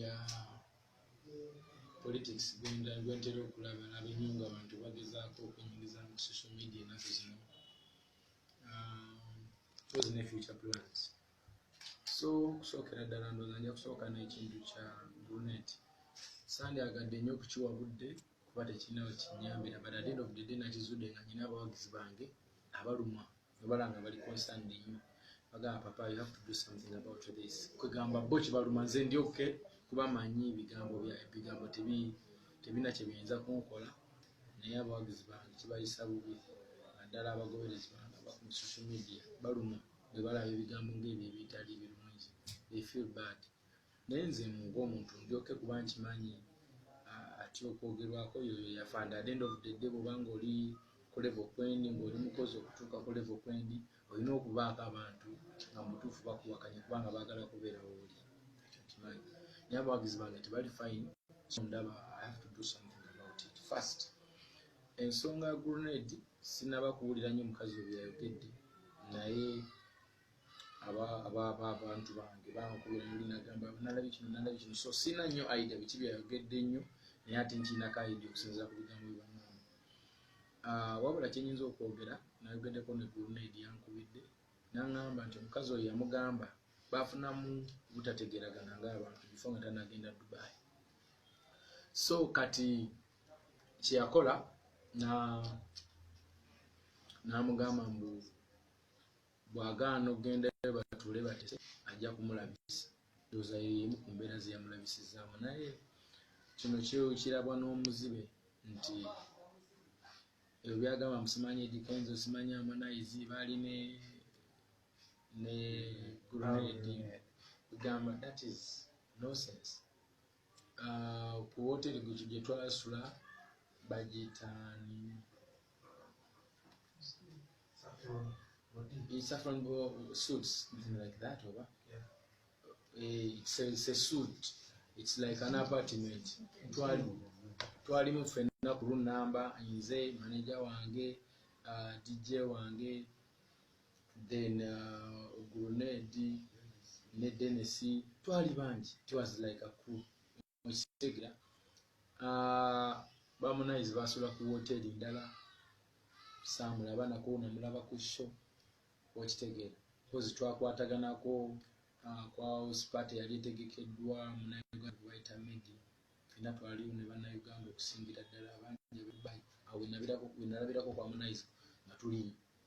ya politics gwenda gwentera okulaba laba ennyo nga abantu bagezaako okwenyingiza mu social media enaku zino tozi um, ne future plans so okusookera ddala ndooza nja kusooka n'ekintu kya brunet sande agadde nnyo okukiwa budde kuba tekirina wekinyambira but at end of the day nakizudde nga nyina abawagizi bange abalumwa abalanga bali concerned nnyo bagamba papa you have to do something about this kwegamba bo kibaluma nze ndi oke kuba manyi ebigambo bya ebigambo tebi tebina kye biyinza kunkola naye abawagizi bange kibayisa bubi naddala abagoberezi bange abaku social media baluma bwe balaba ebigambo ngaebyo ebitali birungi they feel bad Naye nze ngomuntu ndi ok kuba nkimanyi atya okwogerwako yoyo yafande at the end of the day bwoba nga oli ku level kwendi nga oli mukozi okutuuka ku level kwendi olina okubaako abantu nga mubutuufu bakuwakanya kubanga bagala kubeera wooli ekyo nkimanyi naye abawagizi bange tebali fine so ndaba i have to do something about it first ensonga ya grenade sinaba kuwulira nyo mukazi oyo yayogedde naye abantu bange bankubira muli nagamba nalabye kino nalabye kino so sina nnyo aida biki byayogedde nnyo naye ate nkiinako aidi okusinzira ku bigambo bibanamu ah, wabula kyenyinza okwogera nayogeddeko negulunaidi yankubidde nangamba nti omukazi oyo yamugamba bafunamu butategeragana nga abantu bifo nga tanagenda dubai so kati kyeyakola namugamba mbu Bw'agaana okugendayo batuule batese ajja kumulabisa. Ndowooza eyo y'emu ku mbeera ze yamulabisizzaamu naye kino kirabwa n'omuzibe nti ebyo byagamba musimanyi Eddy Kenzo simanyi Harmonize baali ne ne grenade gamba that is nonsense ku wooteeri gwe gye twasula bagitaani saffron suits something like that oba yeah. Eh, it's a, it's a suit it's like an apartment twalimu twalimu ffenna ku lunamba nze maneja wange uh, dj wange then uh, grenade ne dennis twali bangi it was like a crew mukitegera uh, bamunaizi basula ku woteri ndala samulaba nako namulaba ku sho okitegeera kozi twakwataganako uh, kwa spat yali etegekeddwa munauganda medi fena twaliwo ne banauganda okusingira ddala abangi wenalabirako kwa munaizi nga tuli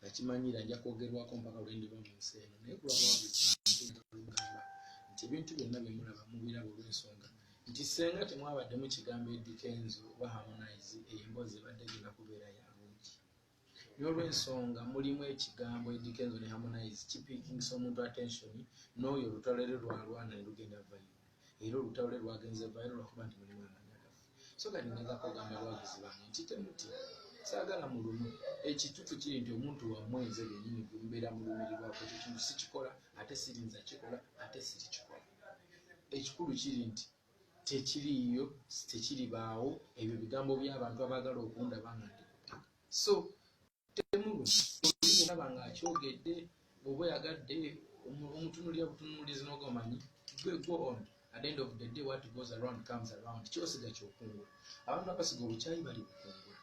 nakimanyira nja kwogerwako mpaka lwe ndiba mu nsi eno naye kulwabawabiugamba nti ebintu byonna bye mulaba mubiraba olw'ensonga nti senga temwabaddemu kigambo edikenzo oba harmonize eyo emboozi ebadde genda kubeera ya bungi n'olw'ensonga mulimu ekigambo edikenzo ne harmonize kipikinsa omuntu attention n'oyo olutalo eri lwalwana ne lugenda vayo era olutalo lwe lwagenze vayiro lwakuba nti mulimu amanya gaffe so kati ngezako ogamba abawagizi bange nti temuti saagala mulumu ekitufu kiri nti omuntu wamwe nze benyini gumbeera mulumirirwako ekyo kintu sikikola ate sirinza kikola ate sirikikola ekikulu kiri nti tekiriiyo tekiribaawo ebyo bigambo by'abantu abaagala okundaba nga ndi so temulo olaba nga akyogedde oba oyagadde omutunulira butunulizi nogomanyi gwe go on at end of the day what goes around comes around kyosiga kyokungula abantu abasiga obukyayi bali bukungula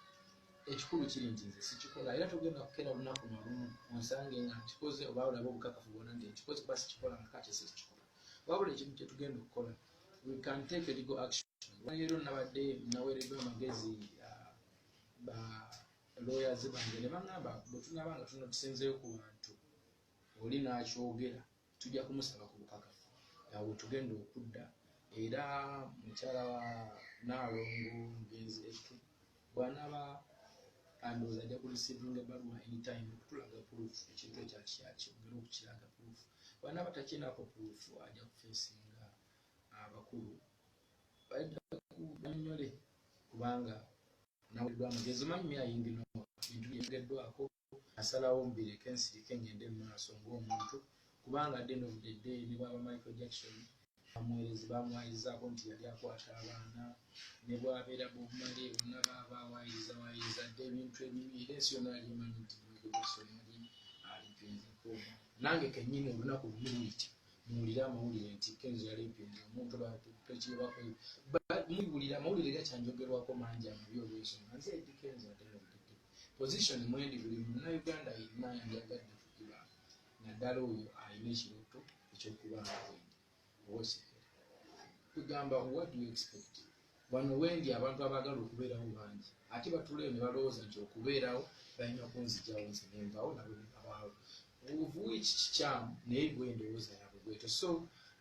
ekikulu kiri nti nze sikikola era togenda kukera lunaku nalumu onsange nga nkikoze oba olaba obukakafu bwona nti nkikoze kuba sikikola nga kati sikikola wabula ekintu kyetugenda okukola we can take a legal action wayero nabadde naweredwa amagezi uh, ba lawyers bange nebangamba bwetunaba nga tunatusinzeyo ku bantu oli nakyogera tujja kumusaba ku bukakafu nga wetugenda okudda era mukyala wa naalongo mugenzi etu bwanaba andooza ajja kurisivinga ebaluwa anytime okutulaga proof ekintu ekyakyakibugera okukiraga proof bwanaba takinako proof ajja kufesinga abakulu bajja kunyonyole kubanga naweereddwa amagezi manyi ayingi no bintu byeyogeddwako asalawo mbireke nsirike ngende mu maaso ng'omuntu kubanga adde no budde dde ne bwaba Michael Jackson bamuweerezi bamwayizaako nti yali akwata abaana ne bwabeera bobumale bonna baaba awaayiriza waayiriza dde ebintu ebibi era ensi yonna yali emanyi nti Michael Jackson yali alimpinzeko nange kennyini olunaku lumuluyiti muwulire amawulire nti kenzo yali mpinzi omuntu bantu pekyebakoyo muwulire amawulire gakyanjogerwako mangi amabi olwensonga nze edi kenzo atenotete position mwendi buli muna uganda yenna yanjagadde kugira naddala oyo alina ekiroto ekyokubanga kwendi owosekera kugamba what do you expect Wano wendi abantu abaagala okubeerawo bangi ate batuulayo ne balowooza nti okubeerawo balina kunzigyawo nze ne nvawo nabo ne babaawo of which kikyamu naye gwe endowooza yaabwe bwetyo so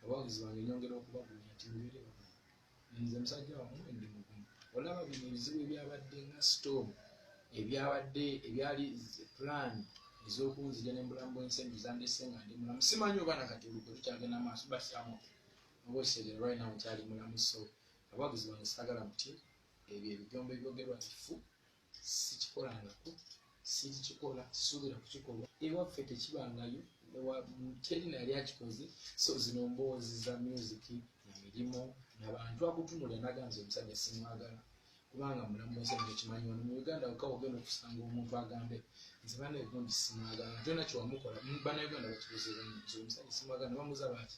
abawagizi bange nyongera okubagumya nti mubeere bamu nze musajja wamu endi mugumu olaba bino ebizibu ebyabadde nga storm ebyabadde ebyali plan ezokunzija nembulamu bwensi eno zandese nga ndi mulamu simanyi oba nakati olugwe tukyagenda maaso but am okay oba okitegera right now nkyali mulamu so Abawagizi bange saagala mutye, ebyo ebijwambo ebyogerwa nti ffu, sikikolangako, sikikikola, sisuubira kukikolwa. Ewaffe tekibangayo, teri nali akikoze. So zino mboozi za myuziki na mirimu na bantu akutunulira nagamba nti omusajja simwagala kubanga mulamu wensi nti okimanyi wano mu Uganda wokka wogenda okusanga omuntu agambe nze banaye gundi simwagala ate nakyewamukola banauganda bakibuziibwa nti omusajja simwagala ne bamuza baati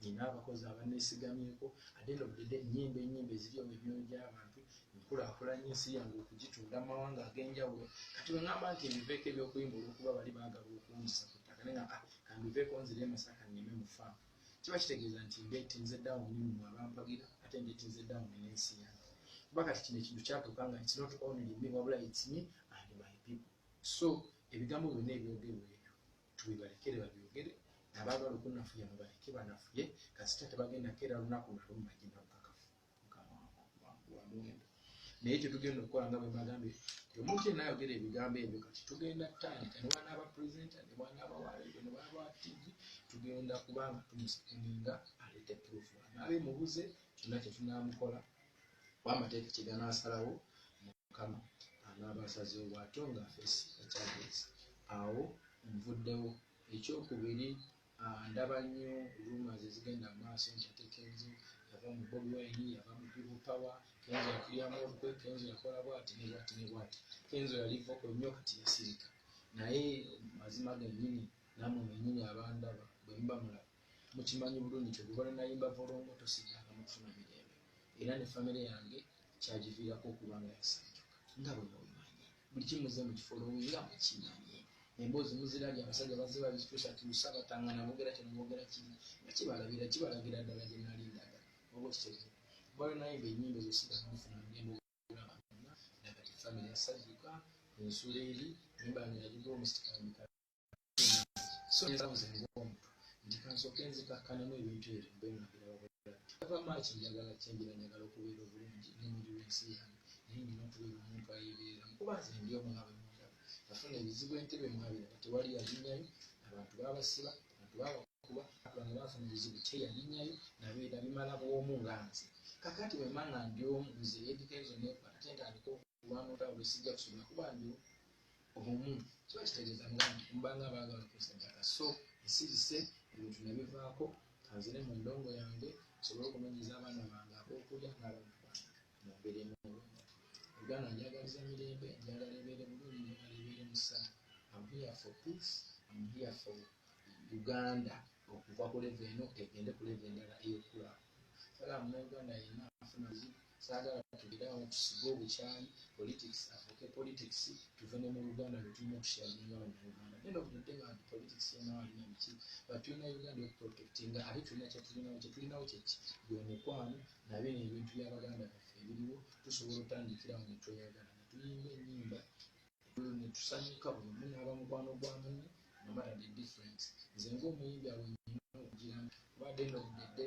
nina abakozi abanesigamyeko adenda obudede enyimba enyimba eziriyo mu myoyo gyabantu nkulakulanya ensi yange okugitunda mu mawanga agenjawulo kati wengamba nti mbiveeko ebyokuyimba olwokuba bali bagala okunzisa ku ttaka naye nga ah, kambiveeko nzire emasaka neme mufa kiba kitegeeza nti ndetinze dawuni mu abampagira ate ndetinze dawuni n'ensi yange kuba kati kino ekintu kyatuuka nga it's not only me wabula it's me and my people so ebigambo byonna ebyogerwa ebyo tubibalekere babyogere nabaagala okunafuya mubaleke banafuye kasita tebagenda keera lunaku nalumagina bukakafu mukamwamuwendo naye kyetugenda okukola nga bwemagambye omuntu yena ayogera ebigambo ebyo kati tugenda tandika nebanaaba presenta nebanaaba waleero nebanaaba tv tugenda kubanga tumusikininga alete proof anaaba emubuze kyonna kyetunamukola Wamateeka kyegana asalawo mukama anaaba asazeewo bwatyo nga face the charges awo nvuddewo. Ekyokubiri ndaba nnyo rumours ezigenda mumaaso nti ate kenzo yava mu bobi wine yava mu people power kenzo yakulyamu olukwe kenzo yakola bwati ne bwati ne bwati kenzo yali voko nnyo kati yasirika naye mazima gennyini namwe bennyini abandaba bwemuba mulaba mukimanyi bulungi nti oluva lwenayimba volongoto siddangamu kufuna mirembe era ne famire yange kyagiviirako okuba nga yasanjuka nga bwe mubimanyi buli kimuze mu kifo lowi nga mukimanyi emboozi muzirabye abasajja bazze babituusatuusa batangana boogera kino boogera kiri nga kibalabira kibalagira ddala gye nali ndaga oba kiteze oluva lwenayimba ennyimba ezo siddangamu kufuna mirembe okulaba nga nagati famire yasanjuka ensuula eri nyimba yange yagiga omusika nti kansooke nzikakkanemu ebintu ebyo mbe nga mbirababulala ava maaki njagala kyenjira njagala okubeera obulungi nemundi lwensi yange naye nina okubeera omuntu ayebeeramu kuba nze ndi omu nga bwemundaba nafuna ebizibu entebe mwabiraba tewali yalinyayo abantu babasiba abantu babakuba abantu bafuna ebizibu teyalinyayo nabeera bimala bwomu nga nze kakati wemanga ndi omu nze edikenzo nekwata tentandika kubanga olwo sijja kusoma kuba ndi omu kiba kitegeeza nga nti mbanga baagala kunsajjaka so nsirise ebintu nabivaako kanzire mu ndongo yange nsobole okunonyeza abaana bange abokulya n'abantu bange mu mbeera emulu uganda njagaliza mirembe njagala ebeere bulungi njagala ebeere musa am here for peace am here for uganda okuva ku leve eno egende ku leve endala eyokula kale amuna uganda yenna afuna bizibu sagala tugere awo tusige obukyayi politics afuuke politics tuve ne mu uganda lwetulina okusharinga banauganda neno budadde bantu politics yenawalina biki but tulina uganda okuprotectinga ate tulina kyetulinawo kyetulinawo kyeki gwe mukwano nabino ebintu byabaganda baffe ebiriwo tusobola otandikirawo netweyagala netuyimba enyimba netusanyuka buli omu naaba mukwano gwa munne no matter the difference nze ngaomuyimbi awo nyina okugira nti kubadde nobudedde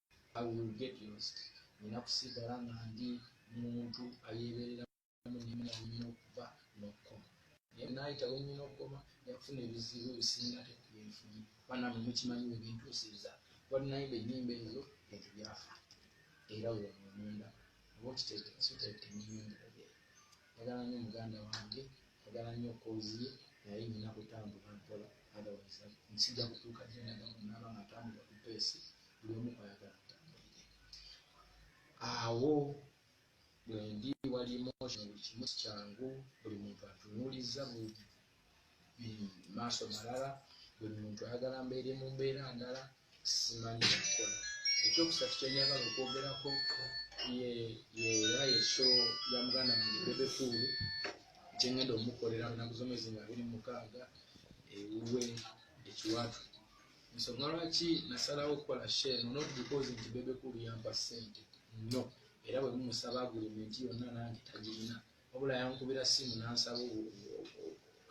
I will get lost. Nina kusigala nga ndi muntu ayeebereramu ne muna wenyina okuva n'okukoma. Naye naayita wenyina okukoma nja kufuna ebizibu ebisinga ate ku bye nfunye. Banange mukimanyi we bintuusizza. Wali nayimba ennyimba ezo bintu byafa era w'ono omunda oba okiteete so teete ennyimba enjogera. Njagala nnyo muganda wange, njagala nnyo koozi ye naye nina kutambula mpola otherwise sijja kutuuka gye ndaga bwe naaba nga ntambulira ku peesi buli omu kwayagala mutambulire awo bwendi wali emotion buli kimu sikyangu buli muntu atunuuliza maaso malala buli muntu ayagala mbeere mu mbeera ndala simanyi nakola ekyokusatu kyenyagala okwogerako era yesho ya muganda wange bebekuulu kyengenda omukolera lunaku zomwezi nga abiri mukaaga ewuwe ekiwatu ensonga lwaki nasalawo okukola sho eno not because nti bebe kulu yampa ssente no era bwe mumusaba agulimenti yonna nange tagirina wabula yankubira simu nansaba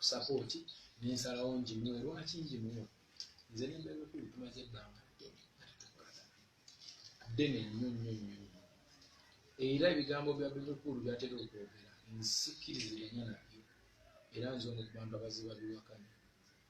sapooti nensalawo njimuwe lwaki njimuwe nze ne bebe kulu tumaze ebbanga ddene ddene nnyo nnyo nnyo nnyo era ebigambo bya bebe kulu byatera okwogera nsikirizirenyo nabyo era nze ono kubantu abaziba biwakanya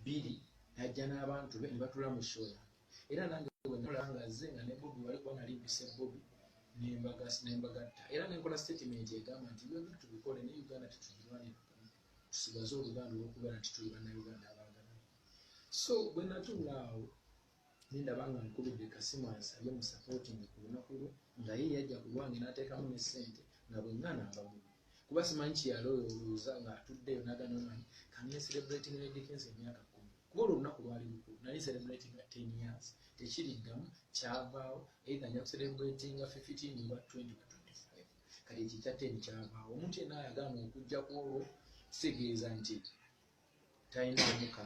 bbiri najja n'abantu be ne batula mu show yange era nange bwe namulaba nga azze nga ne bobi wali kuba nali mpise bobi nembagatta era nenkola statement egamba nti byobi tubikole ne uganda tetugirwanira tusigaze oluganda olwokubeera nti tuli bannayuganda abaagala so bwe natuula awo Nendaba nga nkubidde kasimu ansabe mu supporting ku lunaku lwe nga ye yajja ku lwange natekamu ne sente nga bwengana mba mubbi kuba simanyi kyeyaloyowooza nga atuddeyo nagana omanyi kange celebrating ne Dickens emyaka kumi kuba olwo olunaku lwali lukulu nali celebrating nga 10 years tekiriddamu kyavaawo either nja kucelebratinga 15 oba 20 oba 25 kati ekikya 10 kyavaawo omuntu yenna ayagala okujja ku olwo kitegeeza nti talina amuka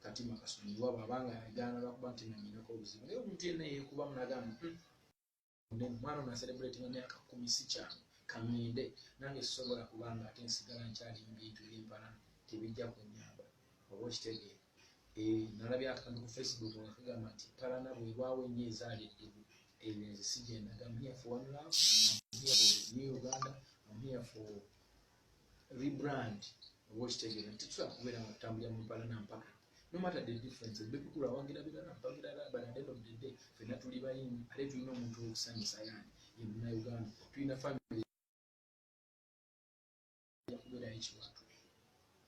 katima kasonyiwa bwaba nga yagaana lwakuba nti nanyinako obuzibu naye omuntu yenna yekubamu nagamba hmm, omwana ono aserebrate nga myaka kumi si kyangu kangende nange sisobola kubanga ate nsigala nkyali mubintu byempala tebijja kunyamba oba okitegeera eh, nalabye akantu ku facebook nga kagamba nti palana bwebwawo ennyo ezaali eddugu ebyo nze sijendaga mhiya for one love mhiya for new uganda mhiya for rebrand oba okitegera nti tusobola kubeera nga tutambulira mu mpala na mpaka no matter the difference ebikukulu awagira birala mpaka birala but at the end of the day fenna tuli bayimbi ate tulina omuntu okusanyusa yani ye munauganda tulina family yakubeerayo ekiwatu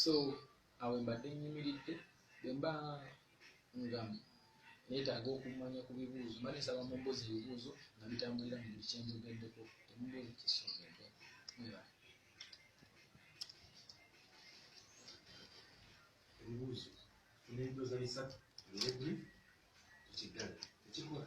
so awo mbadde nyimiridde bwemba nga netaaga okumanya ku bibuuzo mba nsaba mumbuuza ebibuuzo nga bitambulira mu buli kyenjogeddeko temumbuuza kisogedde ebibuuzo tunebuuza bisatu ebibuuzo tukiddala tekikola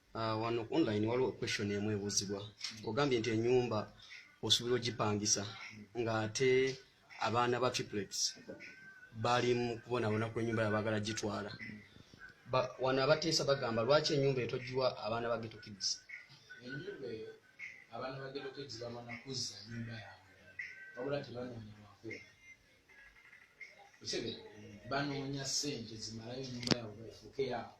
Ah, wano online waliwo question emu ebuuzibwa ogambye nti enyumba osuubira ogipangisa ng'ate abaana ba triplets bali mu kubonabona ku enyumba yabagala gitwala wano abateesa bagamba lwaki enyumba etogiwa abaana ba geto kids abaana ba geto kids bamana kuzza nyumba yabwe wabula tebanoonyewako banoonya sente zimalayo enyumba yabwe efuuke yaabwe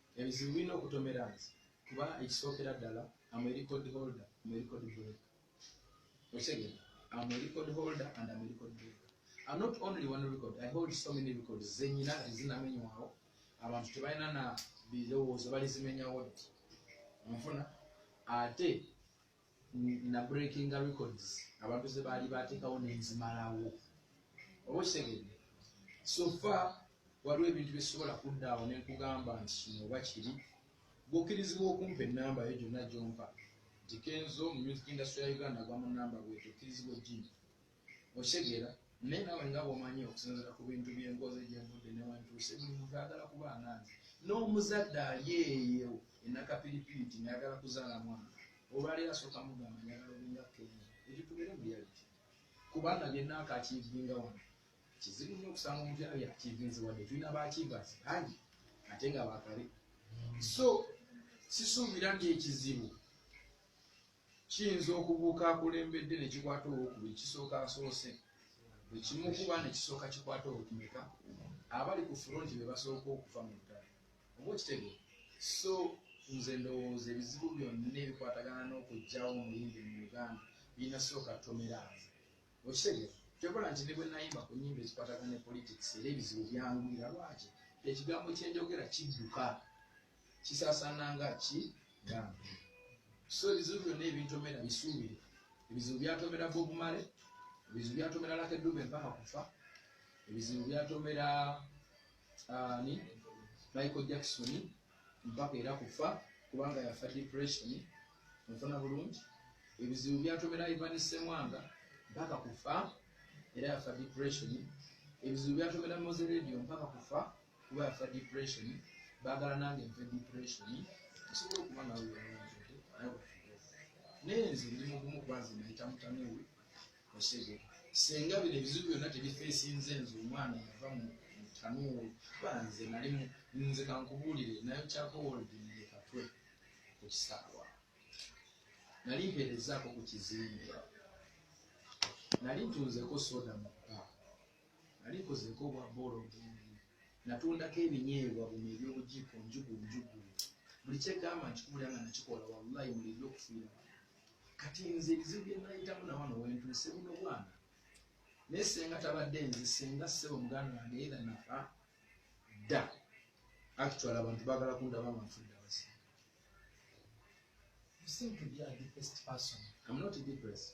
Ebizibu birina okutomera nze kuba ekisookera ddala am a record holder, am a record breaker. Okitegera? Am a record holder and am a record breaker. I'm not only one record, I hold so many records zenyina ezinamenywawo abantu tebalina na birowoozo balizimenyawo nfuna ate na breakinga records abantu ze baali bateekawo nenzimalawo oba okitegedde sofa waliwo ebintu byesobola kuddaawo nenkugamba nti kino oba kiri gukkirizibwa okumpa enamba yo gyonna gyompa nti kenzo mu music industry ya uganda gwa mu namba bwetyo okkirizibwa ojjimpa Okitegeera? Naye naawe nga bw'omanyi okusinziira ku bintu bye nkoze gye nvudde ne wentuuse, buli muntu ayagala kuba nga nze. N'omuzadde ali eyo e Nakapiripiiti ng'ayagala kuzaala mwana, olwaleero asooka mugamba njagala obe nga Kenzo. Ekyo tubeere mu reality. Kubanga bye nnaakaakiivinga wano, kizibu nnyo okusanga omuntu yena byakiivinze wadde tulina baakiivazi bangi ate nga bakale. So sisuubira nti ekizibu Kiyinza okubuuka akulembedde ne kikwata owokubiri kisooka asoose bwe kimukuba ne kisooka kikwata owokumeka abali ku fulonti be basooka okufa mu lutalo oba okitege so nze ndowooza ebizibu byonna ebikwatagana n'okugyawo omuyimbi mu uganda birina sooka tomera nze okitege kyokola nti ne bwe nayimba ku nyimba ezikwatagana ne politics era ebizibu byangwira lwaki ekigambo kyenjogera kidduka kisasana nga ki gambi so ebizibu byonna ebintomera bisuubire ebizibu byatomera bobumale ebizibu byatomera lakedube mpaka kufa ebizibu byatomera ani michael jackson mpaka era kufa kubanga yafa depression nfuna bulungi ebizibu byatomera ivan semwanga mpaka kufa era yafa depression ebizibu byatomera moze radio mpaka kufa kuba afa depression bagala nange nfe depression nsobola okuba nawe wewenzede nawe naye nze ndi mugumu kuba nze nayita mutamiwe osege senga bino ebizibu byonna tebifeesinze nze omwana yava mu mutamiwe kuba nze nali nze kankubuulire nayo kyakowoldiekatwe ku kisaawa nali mpeerezaako ku kizimbe nali ntunzeko soda mu bba nalikozeeko obwa bboolo bwembi, natundako ebinyeebwa bwno eby'obujiiko njugu njugu, buli kyegamba nkikubulira nga nakikola walayi mulirira okufiira wano. Kati nze ebizibu byenayitamu nawano wentuuse buno bwana. Naye senga tabadde nze senga ssebo muganda wange either nafa dda actually abantu bagala kundaba nga nfudde abasiru. You seem to be a depressed person. I'm not depressed.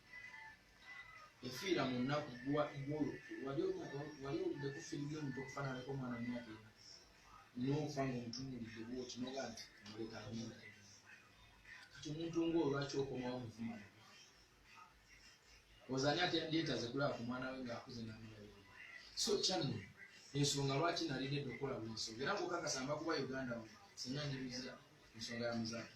efiira mu nnaku wali oludde ku firimu y'omuntu okufaananako omwana myaka ena n'ofa ng'omutunuulidde bwoti noga nti muleka amyaka kati omuntu ng'olwaki okomawo muvuma ozani ate yandyeetaze kulaba ku mwana we ng'akuze namulayo so kyanno ensonga lwaki nalidedde okukola buli nsonga era ngokakasamba kuba uganda we singa njibizira ensonga ya muzaaki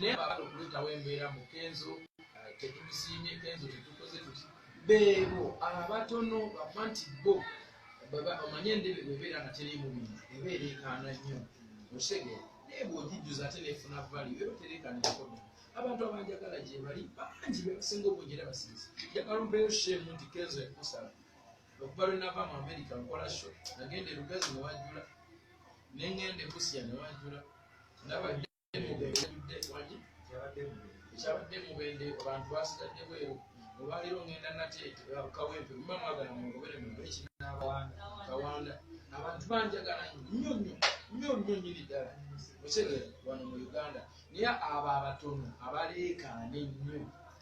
naye abagala okuleetawo embeera mu kenzo eh, tetumusiimye kenzo tetukoze tuti beebo abatono bafa nti bo omanye endebe bwebeera nga teriimu bintu eba ereekaana nnyo osege naye bwogijjuza ate nefuna vali eba tereekaana ekikodo abantu abanjagala gyebali bangi bebasinga obungi era basinza njagala ompeyo sheemu nti kenzo ekusala okuva lwenava mu amerika nkola sho nagenda erugazi newajula nengenda ebusia newajula ne nabadde ekyabadde mubende abantu basigadde bweru olwaleero ngenda natekawempe muba mwagala mungobere mubekawanda abantu banjagala nyo nyo nyo nyo nyiri ddala okitegera wano mu uganda naye abo abatono abaleekaana ennyo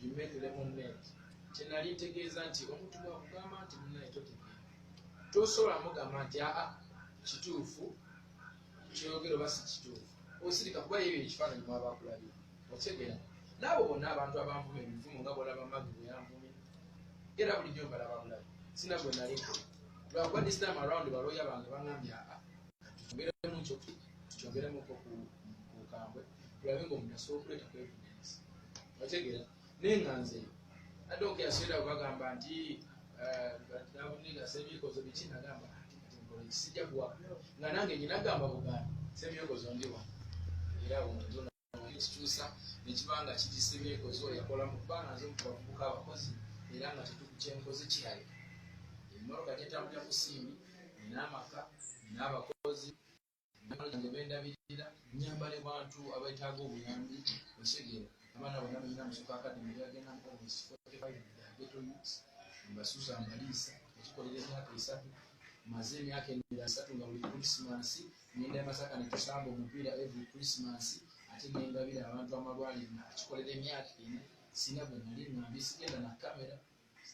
You make lemonade. Kyenali ntegeeza nti omuntu bwakugamba nti munaye totegeera. Tosobola mugamba nti aa kituufu kyoyogera oba si kituufu. Osirika kuba yeyo ekifaananyi mwaba akulabira. Otegeera. N'abo bonna abantu abanvuma ebivumo nga bwolaba magi bwe yanvumye. Era bulijjo mbalaba bulabi. Sina gwe nali nkola. Lwakuba this time around balooya bange bangambye aa tukyongeremu kyo tukyongeremu ko ku kambwe tulabe ng'omuntu asobola okuleeta kwevunanyisa. otegera naye nga nze adde okuyasira bagamba nti nabuniga eh, semyekozo biki nagamba sijja kuwa nga nange nyina gamba buganda semyekozo ndiwa era ekikyusa nekiba nga kiri semyekozo yakola mu kubanga nze mukubavubuka abakozi era nga tetukukyenkoze kirayo emmotoka gyetambulira ku siimi nina amaka nina abakozi Nabala gye bendabirira nyambale bantu abaetaaga obuyambi osegeera abaana bona balina musoka akademi byagenda mukomusi 45 geto youths mbasuza mbaliisa ekikolera emyaka esatu maze emyaka emira asatu nga buli krisimansi ngenda emasaka netusamba omupiira every krisimansi ate nengabira abantu amalwaliro nakikolera emyaka ena singa gwe nali ngambi sigenda na kamera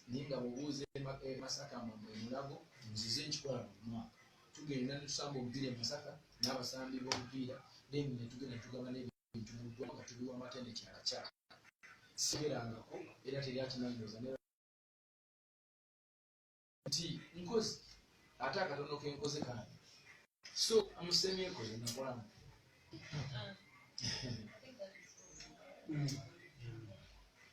naye nga bwobuuza e masaka mwe mwe mulago nzize nkikola buli mwaka tugenda netusamba omupiira e masaka n'abasambi b'omupiira then netugenda netugaba n'ebintu mu ggwa nga tubiwa amatende kyalakyala siberangako era teri akinanyoza nti nkozi ate akatono kenkoze kange so amusemyeko yenakolamu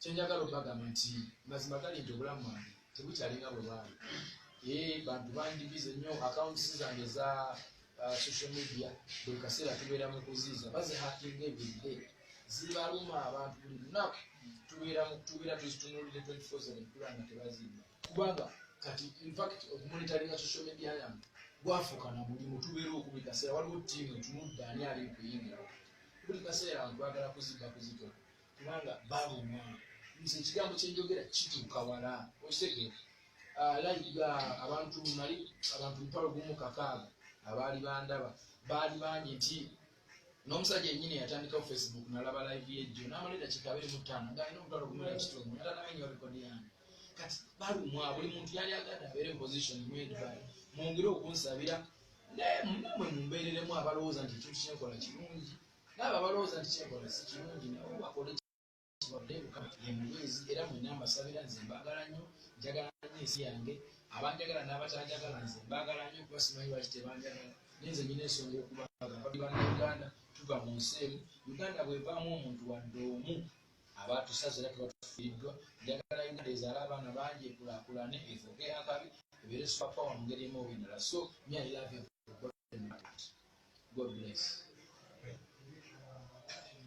kyenjagala obagamba nti mazima gali nti obulamu bwange tebukyalinga bwe bwali e bantu bandibize nnyo accounts zange za uh, social media buli kaseera tubeera mu kuziiza bazihakinga ebiride zibaluma abantu buli lunaku tubeera tubeera tuzitunulire 24 kula nga tebazimba kubanga kati infact okumonitaringa social media yange gwafuuka na mulimu tubeera okubi kaseera waliwo tiimu etunudde ani ali kuyingira buli kaseera abantu bagala kuzibba kuzitola kubanga balumwa nze ekigambo kyenjogera kituuka wala okitegeera alayiga ah, abantu nali abantu mutwalo gumu kakaaga abaali bandaba baali bangi nti n'omusajja enyini yatandikawo facebook nalaba live yejjo namala edakiika abiri mu ttaano nga alina omutwalo gumu nakitundu natanamenyo rekodi yange kati balumwa buli muntu yali agadde abeere position mwedbal mwongere okunsabira naye mumwe mumbeereremu abalowooza nti ekintu kyenkola kirungi N'abo abalowooza nti kye nkola si kirungi nabo bakole kibabudde kyokka ye mubeezi era mwenna mbasabira nze mbaagala nnyo njagala nnyo ensi yange abanjagala n'abatanjagala nze mbaagala nnyo kuba simanyi lwaki tebanjagala naye nze nnyina ensonga okubaagala bali bannayuganda tuva mu nsi emu uganda bw'evaamu omuntu wadde omu aba tusaze era tuba tufiiriddwa njagala uganda ezaala abaana bangi ekulaakulane efuuke akabi ebeere supapawa mu ngeri emu oba endala so myailave God bless.